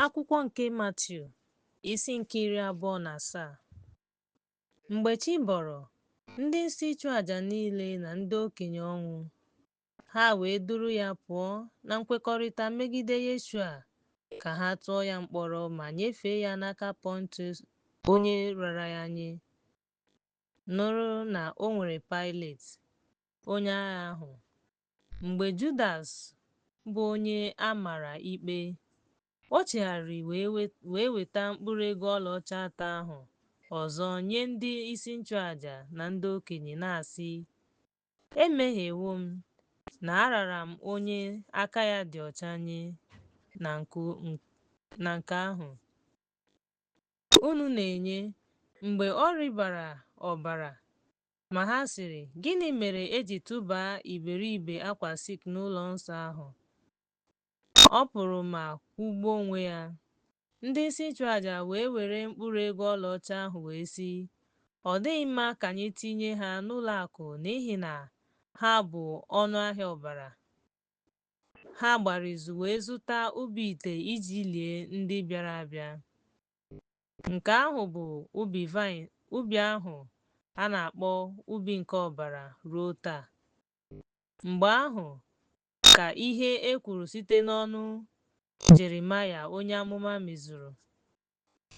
Akwụkwọ nke Matiu isi nke iri abụọ na asaa Mgbe chi bọrọ, ndị isi ịchụ aja niile na ndị okenye ọnwụ, ha wee duru ya pụọ na nkwekọrịta megide Yeshua ka ha tụọ ya mkpọrọ ma nyefee ya n'aka Pọntius onye rara ya nye. Nụrụ na o nwere Paịlet, onye agha ahụ, Mgbe Judas, bụ onye a mara ikpe, o chegharịrị wee we, wee weta mkpụrụ ego ọlaọcha atọ ahụ ọzọ nye ndị isi nchụaja na ndị okenye, na-asị, Emehiewo m, na arara m onye aka ya dị ọcha nye na nke, na nke ahụ unu na-enye, mgbe ọ rịbara ọbara Ma ha sịrị, Gịnị mere e ji tụbaa iberibe akwa silk n'ụlọ nsọ ahụ? Ọ pụrụ ma kwụgbuo onwe ya. Ndị isi nchụaja wee were mkpụrụ ego ọlaọcha ahụ wee sị, Ọ dịghị mma ka anyị tinye ha n'ụlọ akụ n'ihi na ha bụ ọnụ ahịa ọbara. Ha gbara izu wee zụta ubi ite iji lie ndị bịara abịa. Nke ahụ bụ ubi, ubi ahụ a na-akpọ ubi nke ọbara ruo taa. Mgbe ahụ ka ihe e kwuru site n'ọnụ Jeremaya onye amụma mezuru.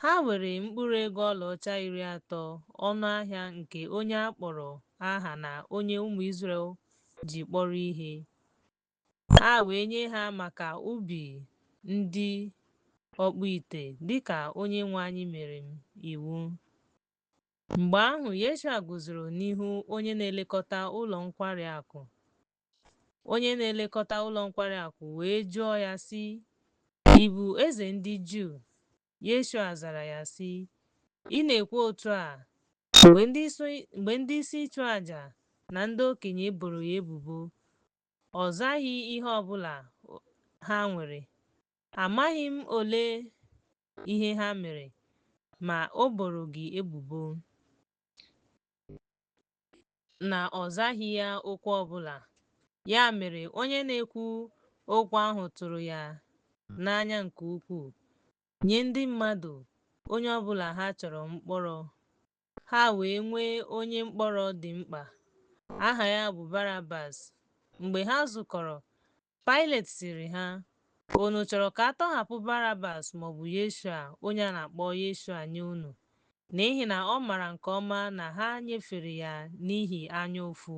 Ha were mkpụrụ ego ọlaọcha iri atọ ọnụ ahịa nke onye a kpọrọ aha na onye ụmụ Izrel ji kpọrọ ihe, ha wee nye ha maka ubi ndị ọkpụ ite dịka onye nwe anyị mere m iwu mgbe ahụ yeshua guzoro n'ihu onye na-elekọta ụlọ nkwari akụ onye na-elekọta ụlọ nkwari akụ wee jụọ ya sị ị bụ eze ndị juu yeshua zara ya sị ị na-ekwu otu a mgbe ndị isi ịchụ aja na ndị okenye boro ya ebubo Ọ zaghị ihe ọ bụla ha nwere. Amaghị m ole ihe ha mere, ma o boro gị ebubo na ọ zaghị ya okwu ọ bụla. Ya mere, onye na-ekwu okwu ahụ tụrụ ya n'anya nke ukwuu, nye ndị mmadụ onye ọ bụla ha chọrọ mkpọrọ Ha wee nwee onye mkpọrọ dị mkpa, aha ya bụ Barabas. Mgbe ha zukọrọ, Pailet sịrị ha, Unu chọrọ ka a tọhapụ Barabas maọbụ Yeshua onye a na-akpọ Yeshua nye unu? N'ihi na ọ maara nke ọma na ha nyefere ya n'ihi anya ụfụ.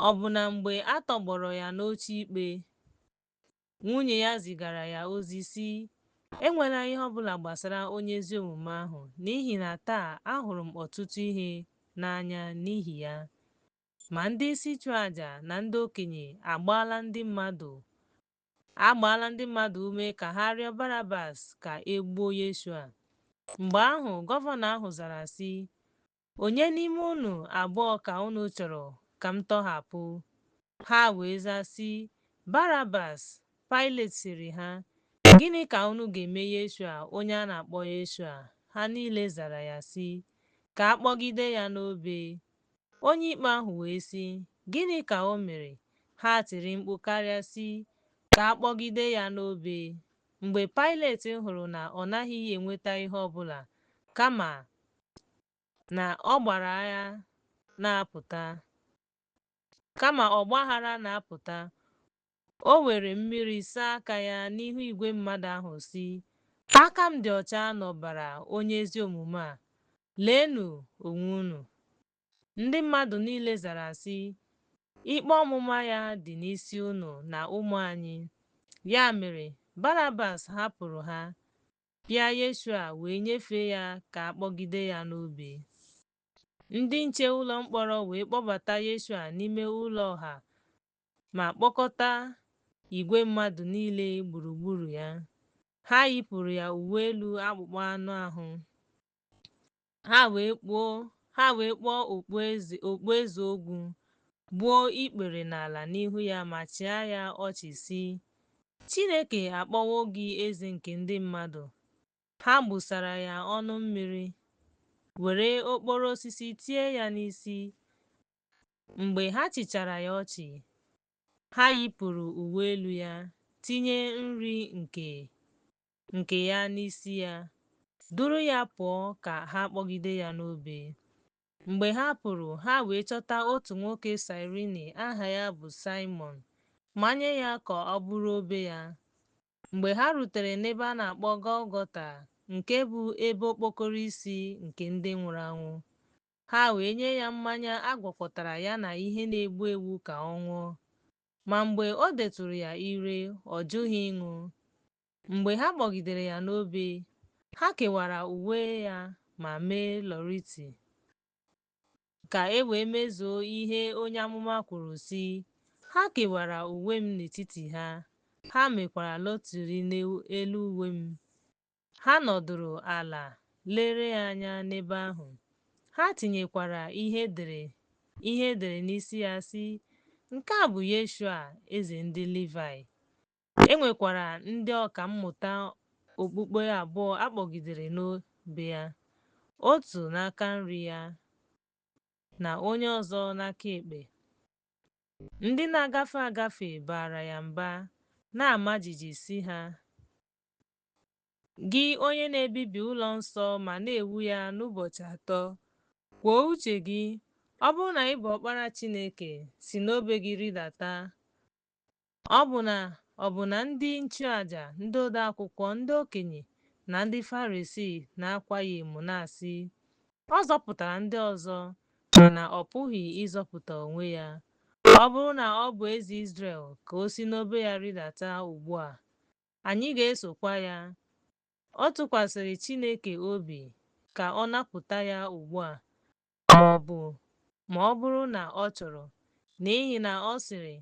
Ọbụna mgbe a tọgbọrọ ya n'oche ikpe, Nwunye ya zigara ya ozi, sị, Enwela ihe ọ bụla gbasara onye ezi omume ahụ, n'ihi na taa ahụrụ m ọtụtụ ihe n'anya n'ihi ya. Ma ndị isi nchụaja na ndị okenye agbaala ndị mmadụ ume ka ha rịọ Barabas ka e gbuo Yeshua. Mgbe ahụ, gọvanọ ahụ zara, sị, Onye n'ime unu abụọ ka unu chọrọ ka m tọhapụ? Ha wee zaa sị, Barabas! Pailet sịrị ha, Gịnị ka unu ga-eme Yeshua onye a na-akpọ Yeshua? Ha niile zara ya sị, Ka a kpọgide ya n'obe. Onye ikpe ahụ wee sị, Gịnị ka o mere? Ha tiri mkpu karịa sị, Ka a kpọgide ya n'obe! Mgbe Pailet hụrụ na ọ naghị enweta ihe ọ bụla, kama na ọ gbara agha na-apụta. Kama ọgbaghara na-apụta, o were mmiri saa aka ya n'ihu igwe mmadụ ahụ sị, Aka m dị ọcha n'ọbara onye ezi omume a, leenụ onwe unu. Ndị mmadụ niile zara sị, Ikpe ọmụma ya dị n'isi unu na ụmụ anyị. Ya mere, Barabas hapụrụ ha, Pịa Yeshua wee nyefee ya ka a kpọgide ya n'obe. Ndị nche ụlọ mkpọrọ wee kpọbata Yeshua n'ime ụlọ ọha ma kpọkọta igwe mmadụ niile gburugburu ya. Ha yipụrụ ya uwe elu akpụkpọ anụ ahụ, ha wee kpụọ okpueze ogwu gbuo ikpere n'ala n'ihu ya ma chịa ya ọchị sị Chineke akpọwo gị eze nke ndị mmadụ ha gbụsara ya ọnụ mmiri were okporo osisi tie ya n'isi mgbe ha chịchara ya ọchị ha yipụrụ uwe elu ya tinye nri nke nke ya n'isi ya, duru ya pụọ ka ha kpọgide ya n'obe. Mgbe ha pụrụ, ha wee chọta otu nwoke Saịrini aha ya bụ Saịmọn, manye ya ka o buru obe ya. Mgbe ha rutere n'ebe a na-akpọ Gọlgọta, nke bụ Ebe Okpokoro Isi nke Ndị Nwụrụ Anwụ, ha wee nye ya mmanya a gwakọtara ya na ihe na-egbu egbu ka ọ ṅụọ. Ma mgbe o detụrụ ya ire, ọ jụghị ịṅụ. Mgbe ha kpọgidere ya n'obe, ha kewara uwe ya ma mee lọriti, ka e wee mezuo ihe onye amụma kwuru, sị, Ha kewara uwe m n'etiti ha, ha mekwara lọtiri n'elu uwe m. Ha nọdụrụ ala lere ya anya n'ebe ahụ. Ha tinyekwara ihe e dere n'isi ya sị, Nke a bụ Yeshua, Eze ndị Livaị. E nwekwara ndị ọka mmụta okpukpe abụọ a kpọgidere n'obe ya, otu n'aka nri ya na onye ọzọ n'aka ekpe. Ndị na-agafe agafe baara ya mba, na-ama jijiji sị ha, Gị onye na-ebibi ụlọ nsọ ma na-ewu ya n'ụbọchị atọ, kwuo uche gị, ọ bụrụ na ị bụ ọkpara Chineke, si n'obe gị rịdata. Ọ bụ na ọ bụ na ndị nchụaja, ndị odeakwụkwọ, ndị okenye, na ndị Farisii na-akwa ya emo na-asị, Ọ zọpụtara ndị ọzọ, mana ọ pụghị ịzọpụta onwe ya. Ọ bụrụ na ọ bụ eze Izrel, ka o si n'obe ya rịdata ugbu a. anyị ga-esokwa ya. Ọ tụkwasịrị Chineke obi ka ọ napụta ya ugbu a, ma ọ bụ ma ọ bụrụ na ọ chọrọ, n'ihi na ọ sịrị,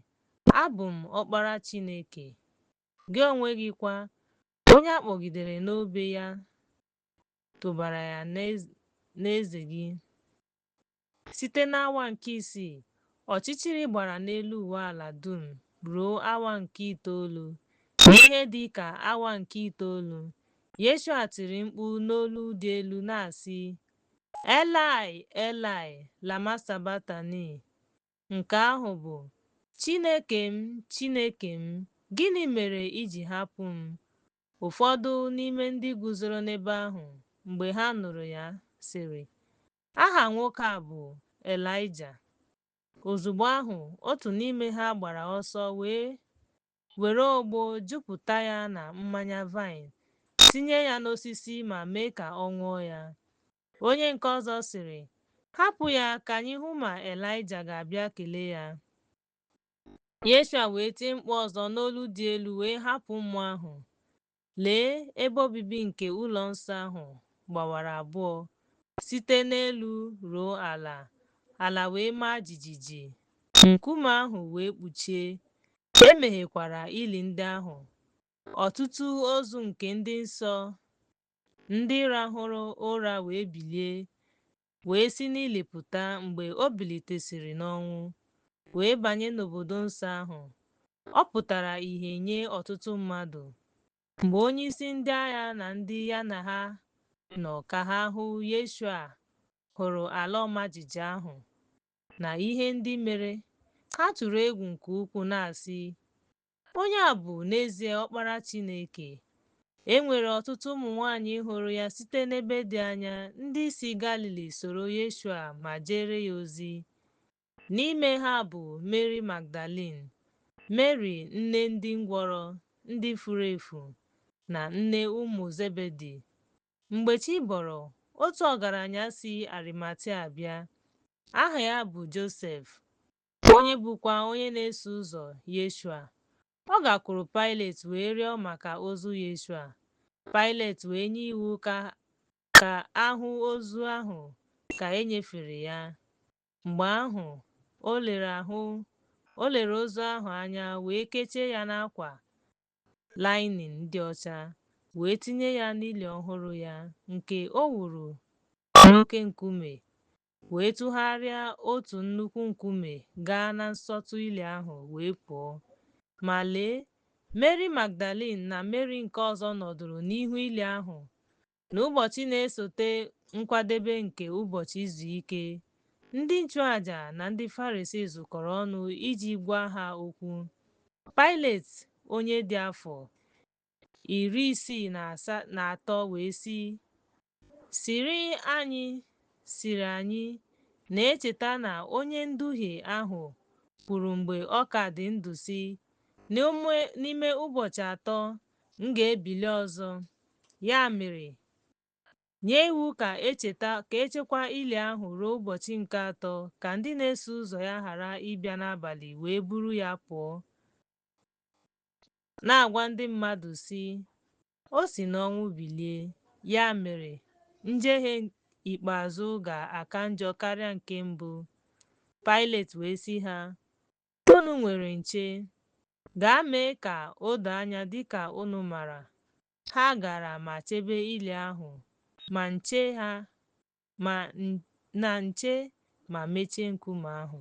Abụ m Ọkpara Chineke, gị onwe gị kwa, onye a kpọgidere n'obe ya tụbara ya n'eze gị. Site n'awa nke isii, ọchịchịrị gbara n'elu ụwa ala dum ruo awa nke itoolu. N'ihe dị ka awa nke itoolu, Yeshua tiri mkpu n'olu dị elu na-asị, Elaị, Elaị, lama sabaktani? nke ahụ bụ, Chineke m, Chineke m, gịnị mere i ji hapụ m? Ụfọdụ n'ime ndị guzoro n'ebe ahụ mgbe ha nụrụ ya sịrị, Aha nwoke a bụ Elaịja. Ozugbo ahụ, otu n'ime ha gbara ọsọ wee were ogbo jupụta ya na mmanya vaịn, tinye ya n'osisi ma mee ka ọ ṅụọ ya. Onye nke ọzọ sịrị, Hapụ ya ka anyị hụ ma Elaịja ga-abịa kelee ya. Yeshua wee tie mkpu ọzọ n'olu dị elu wee hapụ mmụọ ahụ. Lee, ebe obibi nke ụlọ nsọ ahụ gbawara abụọ site n'elu ruo ala, ala wee maa jijiji, nkume ahụ wee kpuchie, e meghekwara ili ndị ahụ, ọtụtụ ozu nke ndị nsọ ndị rahụrụ ụra wee bilie, wee si n'ili pụta mgbe o bilitesịrị n'ọnwụ, wee banye n'obodo nsọ ahụ. Ọ pụtara ìhè nye ọtụtụ mmadụ. Mgbe onyeisi ndị agha na ndị ya na ha nọ ka ha hụ Yeshua hụrụ ala ọma jijiji ahụ na ihe ndị mere, ha tụrụ egwu nke ukwuu na-asị, Onye a bụ n'ezie Ọkpara Chineke. E nwere ọtụtụ ụmụ nwaanyị hụrụ ya site n'ebe dị anya ndị si Galili soro Yeshua ma jeere ya ozi. N'ime ha bụ Meri Magdalin, Meri nne ndị ngwọrọ, ndị furu efu, na nne ụmụ Zebedi. Mgbe chi bọrọ, otu ọgaranya si Arimatia bịa, aha ya bụ Josef, onye bụkwa onye na-eso ụzọ Yeshua. Ọ gakwuru Paịlet wee rịọ maka ozu Yeshua. Paịlet wee nye iwu ka ahụ ozu ahụ ka e nyefere ya. Mgbe ahụ, o lere ozu ahụ anya wee kechie ya n'akwa lainin dị ọcha wee tinye ya n'ili ọhụrụ ya nke o wuru n'oke nkume wee tụgharịa otu nnukwu nkume gaa na nsọtụ ili ahụ wee pụọ. Ma lee, Meri Magdalin na Meri nke ọzọ nọdụrụ n'ihu ili ahụ n'ụbọchị na-esote Nkwadebe nke Ụbọchị Izu Ike. Ndị nchụaja na ndị Farisii zukọrọ ọnụ iji gwa ha okwu. Paịlet, onye dị afọ iri isii na atọ wee sị, Sịrị anyị sịrị anyị na-echeta na onye nduhie ahụ kwuru mgbe ọ ka dị ndụ sị, N'ime ụbọchị atọ m ga-ebili ọzọ. Ya mere, nye iwu ka echeta ka echekwa ili ahụ ruo ụbọchị nke atọ ka ndị na-eso ụzọ ya ghara ịbịa n'abalị wee buru ya pụọ, na-agwa ndị mmadụ sị, O si n'ọnwụ bilie. Ya mere, njehie ikpeazụ ga-aka njọ karịa nke mbụ. Paịlet wee sị ha, Unu nwere nche. Gaa mee ka o doo anya dị ka unu maara. Ha gara ma chebe ili ahụ, ma na nche ma mechie nkume ahụ.